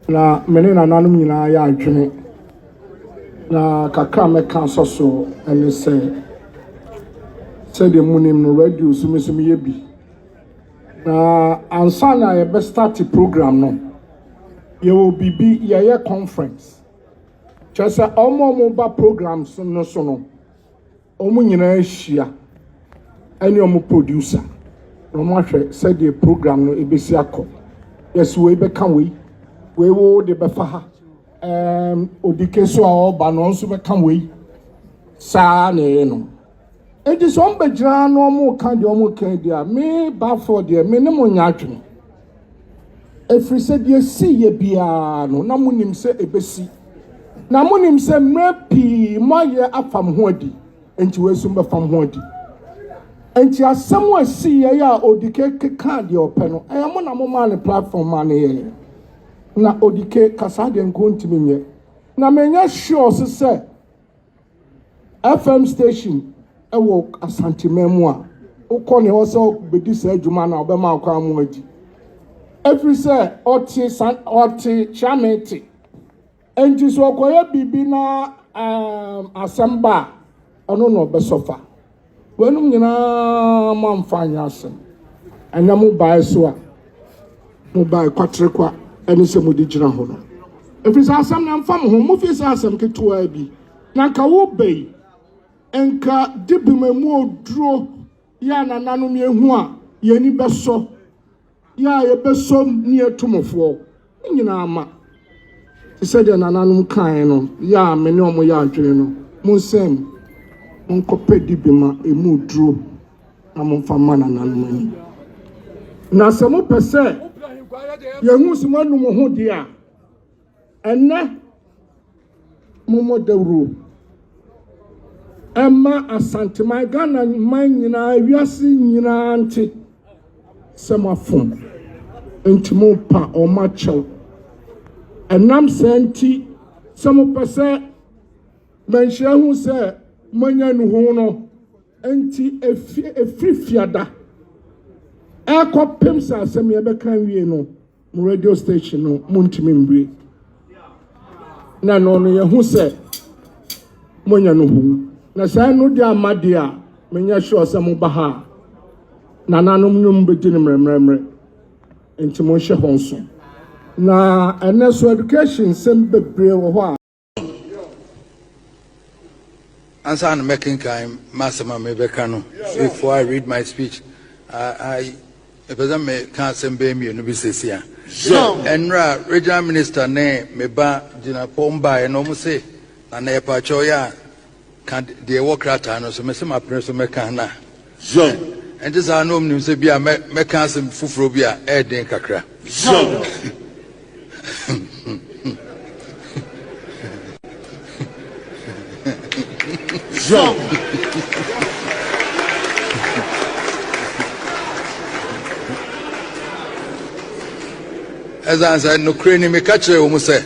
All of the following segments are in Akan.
Na me ne nananom nyinaa yɛ adwene, na kakra a mɛka asɔ so ne sɛ, sɛdeɛ monim no, radio so me nso meyɛ bi. Na ansa na yɛbɛ start program no yɛwɔ biribi yɛyɛ conference kyerɛ sɛ wɔn a wɔba programs no so no wɔn nyinaa hyia ɛne wɔn producer na wɔn ahwɛ sɛdeɛ program no ebesi akɔ yɛsi wei bɛka wei wei wo de bɛfa ha ɛɛm obi keso a ɔreba no nso bɛka wei saa na ɛyɛ no. Enti sɛ wɔn bɛgyina ha na wɔreka deɛ wɔreka di a, me Balfour deɛ, me ne mo nyɛ adwene. Ɛfiri sɛ deɛ ɛsii yɛ biara no, na monim sɛ ɛbɛsi. Na monim sɛ mmerɛ pii moayɛ afam ho adi, enti wei nso mobɛfam ho adi. Enti asɛm a ɛsii yɛ yɛ a Odike kekaa deɛ ɔpɛ no, ɛyɛ mo na momaa ne platform maa no yɛɛ. Na Odike, ka saa deɛ nka ɔntumi nyɛ. Na menyɛ sure so sɛ. FM station wɔ Asanteman mu a, wokɔ ne hɔ sɛ wobɛdi saa adwuma no a, ɔbɛma akwan mu adi. Ɛfiri sɛ ɔte sa ɔte kyerɛme te. Ɛnti sɛ ɔkɔyɛ biribi na um, asɛm ba a, ɔno na ɔbɛsɔfa. Weinom nyinaa moamfa anyɛ asɛm. Ɛnnɛ mobaeɛ so a, mobaeɛ kwaterekwa ne sɛ mode gyina hɔ no. Ɛfiri sɛ asɛm no ɛmfa mo ho, mofii sɛ asɛm ketewaa bi, na anka woba yi, anka dibem mu oduro yɛ a nananom yɛhu a, yɛn ani bɛsɔ. Yɛ a yɛbɛsom ne yɛatu mo foɔ, ne nyinaa ma, te sɛ deɛ nananom kaeɛ no, yɛ a me ne wɔn yɛ adwene no, monsɛe mo, monkɔpɛ dibi ma ɛmu duro na momfa mma nananom ani. Na sɛ mopɛ sɛ yɛhu sɛ moanu mo ho deɛ a, Ɛnnɛ, mommɔ dawuro mma Asanteman, Ghana man nyinaa, wiase nyinaa nte sɛ moafom nti mompa wɔn akyɛw. Ɛnam saa nti, sɛ mopɛ sɛ manhyia hu sɛ moanya nnuho no, nti ɛfiri fiada ɛrekɔpem sɛ asɛm yɛbɛka wie no, Mo radio station no montumi mbue na no no yɛhu sɛ monya no hu na saa no de ama de a menyɛ sure sɛ moba ha a nananom no mbɛdi no mmerɛmmerɛmmerɛ nti monhyɛ ho nso na ɛnɛ so education nsɛm bebree wɔ hɔ a Ansa na mɛkenkan m'asɛm a merebɛka no, before I read my speech, I, I mepɛ sɛ meka asɛm bɛyɛ mmienu bi sɛsi a. Ɛnora regional minister ne me ba gyina fam baeɛ na wɔn se, na na ɛpakyɛw yɛ a Ka deɛ ɛwɔ krataa no so. Mese mapene so mɛka no a. Zion. Ɛnte saa na wɔnim sɛ bi a mɛ mɛka asɛm foforɔ bi a ɛyɛ den kakra. Zion. Zion. Ɛsan sɛ nokorɛ ni meka kyerɛ wɔn sɛ.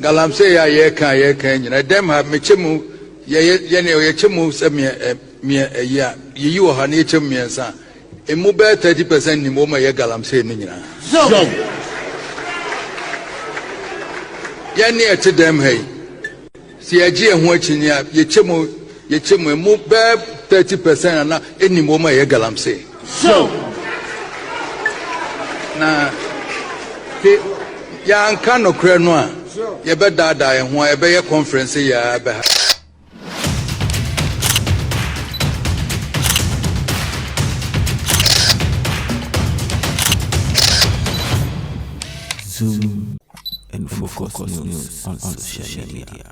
Galamsey a yɛka a yɛka yi nyina ɛdɛm ha mekyɛ mu yɛyɛ yɛne yɛkyɛ mu sɛ miɛ ɛ miɛ ɛyi a yɛyi wɔ ha na yɛkyɛ mu mmiɛnsa emu bɛyɛ 30 percent nim wɔn a ɛyɛ galamsey no nyinaa Zom! yɛne ɛte dɛm ha yi sɛ yɛgye yɛn ho akyinnye a yɛkyɛ mu yɛkyɛ mu emu bɛyɛ 30 percent ana ɛnim wɔn a ɛyɛ galamsey. Sew! Na hwɛ, yɛanka nokorɛ no a, yɛbɛdaadaa yɛn ho a ɛbɛyɛ kɔnferɛnse yi ara bɛha. Zoom and focus news on social media.